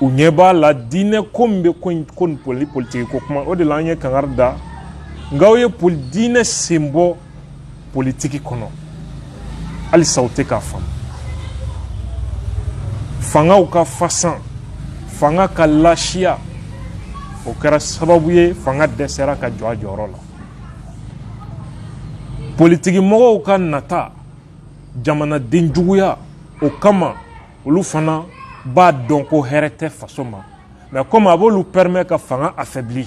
u ɲɛ b'a la diinɛ ko min bɛ ko in ko nin poli politiki ko kuma o de la an ye kangari da n k'aw ye poli diinɛ sen bɔ politiki kɔnɔ halisa u tɛ k'a faamu fangaw ka fasan fanga ka lasiya o kɛra sababu ye fanga dɛsɛra ka jɔ a jɔyɔrɔ la politiki mɔgɔw ka nata jamanaden juguya o kama olu fana b'a dɔn ko hɛrɛ tɛ faso ma mais comme a b'olu permet ka fanga affaiblir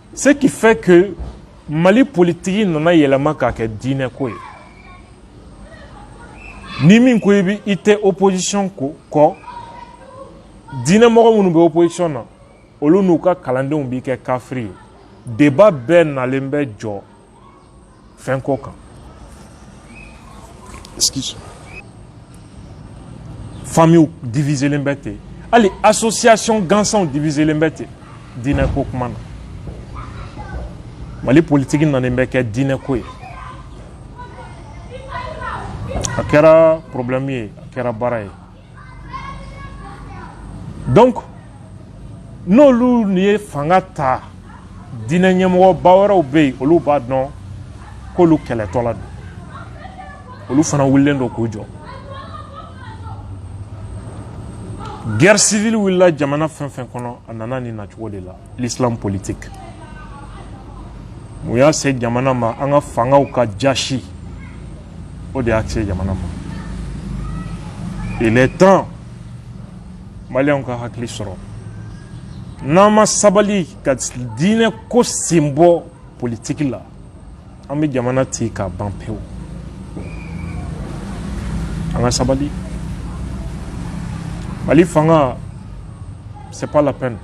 Ce qui fait que Mali politiki nana yɛlɛma k'a kɛ diinɛ ko ye ni min ko i bi i tɛ opposition ko kɔ diinɛ mɔgɔ minnu bɛ opposition na olu n'u ka kalandenw b'i kɛ kafiri ye débat bɛɛ nalen bɛ jɔ fɛn ko kan excuse famillew diviselen bɛ ten hali association gansanw diviselen bɛ ten diinɛ ko kuma na mali politiki nanen bɛ kɛ diinɛ ko ye a kɛra problème ye a kɛra baara ye donc n'olu nin ye fanga ta diinɛ ɲɛmɔgɔ ba wɛrɛw bɛ yen olu b'a dɔn k'olu kɛlɛtɔ la don olu fana wulilen don k'u jɔ guerre civile wulila jamana fɛn o fɛn kɔnɔ a nana nin nacogo de la l'islam politique mun y'a se jamana ma an ka fangaw ka jasi o de y'a se jamana ma il est temps maliyɛnw ka hakili sɔrɔ n'an ma sabali ka diinɛ ko sen bɔ politiki la an bɛ jamana ci ka ban pewu an ka sabali mali fanga c'est pas la peine